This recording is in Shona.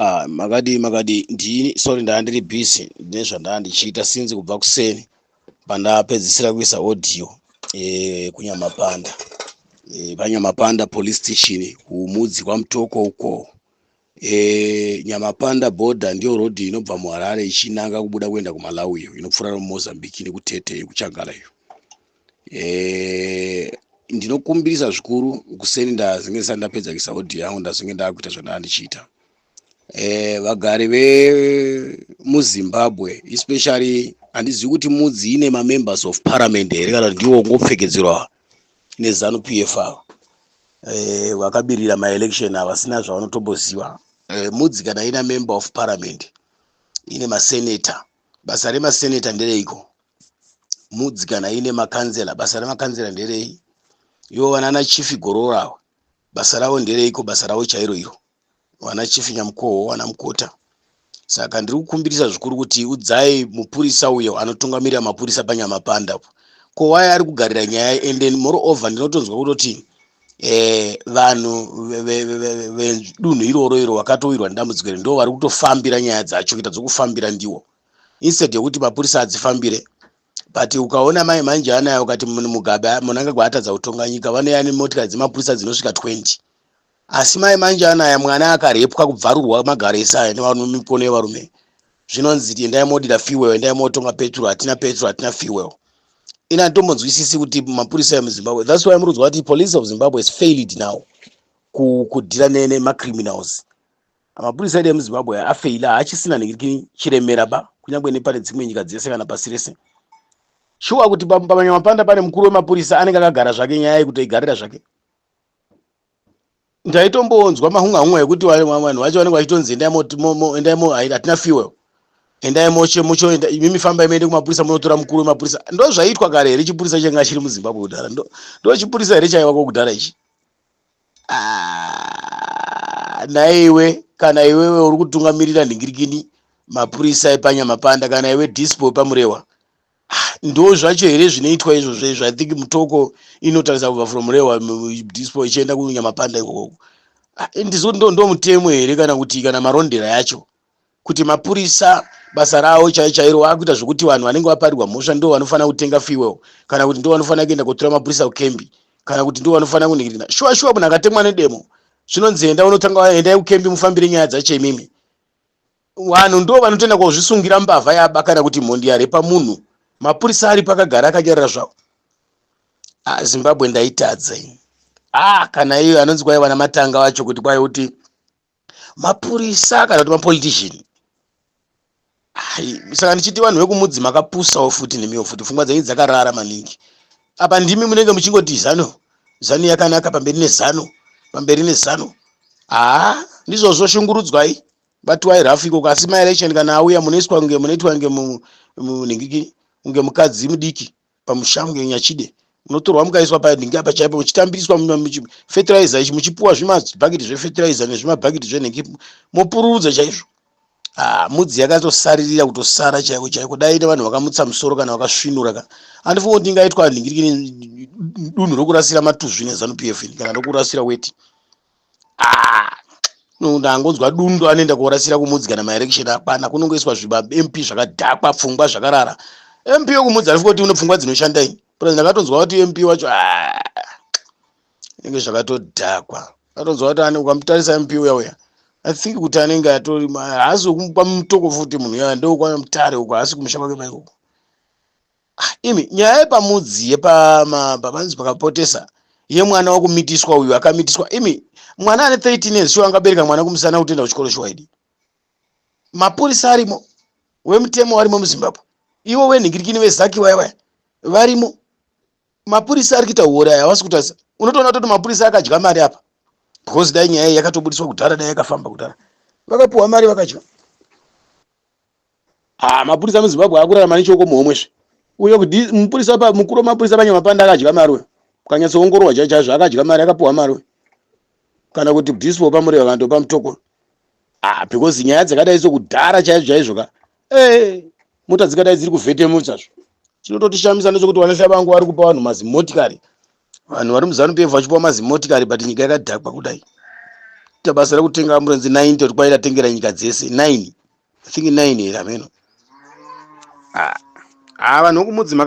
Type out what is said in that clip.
Ah, makadii makadii ndini sorry ndanga ndiri busy ndine zvandanga ndichiita since kubva kuseni pandapedzisira kuisa audio eh, kunyamapanda eh, panyamapanda police station kumudzi kwamutoko uko eh, nyamapanda border ndiyo road inobva muharare ichinanga kubuda kuenda kumalawi iyo inopfuura nomozambique nekutete kuchagala iyo eh, ndinokumbirisa zvikuru kuseni ndazenge ndisati ndapedza kuisa audio yangu ndazenge ndakuita zvandanga ndichiita eh, vagari vemuzimbabwe especially handizivi kuti mudzi ine mamembers of parliament here kana ndiwo ngopfekedzerwa nezanu p f ava eh, vakabirira maelection havasina zvavanotomboziva eh, mudzi kana ina member of parliament ine masenator basa remaseneta ndereiko mudzi kana ine makanzela basa remakanzela nderei ivo vanana chifi gorora basa ravo ndereiko basa ravo chairo iro vana chifi nyamukoho vana mukota saka ndiri kukumbirisa zvikuru kuti udzai mupurisa uyo anotungamirira mapurisa panyamapanda ko waye ari kugarira nyaya and then moreover ndinotonzwa kutoti eh, vanhu vedunhu iroro iro vakatowirwa nedambudziko iri ndo vari kutofambira nyaya dzacho kuita dzokufambira ndiwo instead yekuti mapurisa adzifambire but ukaona mai manje anayo ukati mugabe munangagwa atadza kutonga nyika vanoya nemotikari dzemapurisa dzinosvika 20 asi mai manje anaya mwana akarepwa kubvarurwa magaro ese aya nemikono yevarume zvinonzi endai modira fuel endai motonga petrol hatina petrol hatina fuel ini handitombodzwisisi kuti mapurisa emuzimbabwe thats why muri kuti police of zimbabwe is failed now kudhira nemacriminals mapurisa edu emuzimbabwe afeila haachisina nekii chiremera ba kunyange nepane dzimwe nyika dzese kana pasi rese shuwa kuti pamanyamapanda pane mukuru wemapurisa anenge akagara zvake nyaya yekutoigarira zvake ndaitomboonzwa mahunga hunga ekuti vanhu vacho vanenge vachitonzi endai endai mo hatina fuel endai moche mucho imimi famba imeende kumapurisa munotora mukuru wemapurisa ndo zvaiitwa kare here chipurisa changa chiri muzimbabwe kudhara ndo chipurisa here chaiva kokudhara ichi ah, naiwe kana iwewe uri kutungamirira nhingirikini mapurisa epanyamapanda kana iwe dispo pamurewa Ah, ndo zvacho here zvinoitwa izvozvo izvo i think mutoko inotarisa kubva from rewa dispo ichienda kunyamapanda ikoko ah, ndizvo ndo ndo mutemo here kana kuti kana marondera yacho kuti mapurisa basa ravo chai chairo vakuita zvekuti vanhu vanenge vaparirwa mhosva ndo vanofanira kutenga fuel kana kuti ndo vanofanira kuenda kotora mapurisa kukembi kana kuti ndo vanofanira kuningirina shuwa shuwa munhu akatemwa nedemo zvinonzi enda unotanga endai kukembi mufambire nyaya dzacho imimi Vanhu ndo vanotoenda kozvisungira mbavha yaba kana kuti mhondi yarepa munhu. Mapurisa aripo akagara akanyarara zvawo. Ah, Zimbabwe ndaitadza ini. Ah, kana iyo anonzi kwai vana matanga vacho kuti kwai kuti mapurisa kana kuti mapolitician. Hai, saka ndichiti vanhu vekumudzi makapusawo futi nemiwo futi pfungwa dzenyu dzakarara maningi. Apa ndimi munenge muchingoti zano, zano yakanaka pamberi nezano, pamberi nezano. Ah, ndizvozvo shungurudzwai. but why rough ikoko asi ma election kana auya munoiswa kunge munoitwa kunge munhingiki kunge mukadzi mudiki pamusha kunge nyachide munotorwa mukaiswa panhingi apa chaipo muchitambiriswa fertilizer ichi muchipuwa zvimabhakiti zvefertilizer nezvimabhakiti zvenhingi mopururudza chaizvo Ah, mudzi yakatosaririra kutosara chaiko chaiko dai ine vanhu vakamutsa musoro kana vakasvinura ka andifunga kuti ingaitwa nhingirikini dunhu rokurasira matuzvi nezanu p f kana rokurasira weti ah no ndangonzwa dundu anoenda korasira kumudzigana maerection apana kunongoiswa zviba mp zvakadhakwa pfungwa zvakarara mp yokumudza arifu kuti une pfungwa dzinoshanda ini plus ndakatonzwa kuti mp wacho ah, inenge zvakatodhakwa atonzwa kuti ane ukamutarisa mp uya uya i think kuti anenge atori haasi wekumupa mutoko futi munhu uya ndokwana mutare uko haasi kumusha kwake maikoko Ah, imi nyaya yepamudzi yepavanzi pakapotesa yemwana wakumitiswa uyu akamitiswa imi mwana ane 13 years shuwa angabereka mwana kumusana kutoenda kuchikoro shuwa idi mapurisa arimo wemutemo warimo muzimbabwe ivo venhingirikini vezaki vaya vaya varimo mapurisa ari kuita uori aya havasi kutarisa unotoona toti mapurisa akadya mari apa because dai nyaya iyi yakatobudiswa kudhara dai yakafamba kudhara vakapiwa mari vakadya Ah, mapurisa muzimbabwe akurarama nechoko muhomwe zve uyo kudi mupurisa pa mukuru wemapurisa panyamapanda akadya mari uyo ukanyatsoongororwa chai chaizvo akadya mari akapiwa mari uyo kana kuti dispo pamureva vantu pamutoko ah because nyaya dzakadai sokudhara chaizvo chaizvo ka eh mota dzikadai dziri kuvhetemutsazvo chinototishamisa ndechokuti vanasha vangu vari kupa vanhu mazimotikari vanhu vari muzanu pf vachipiwa mazimotikari but nyika yakadhakwa kudai ita basa rekutenga amburenzi 9 toti kwaida tengera nyika dzese 9 i think 9 here hameno haa ah, ah, vanhu vekumudzima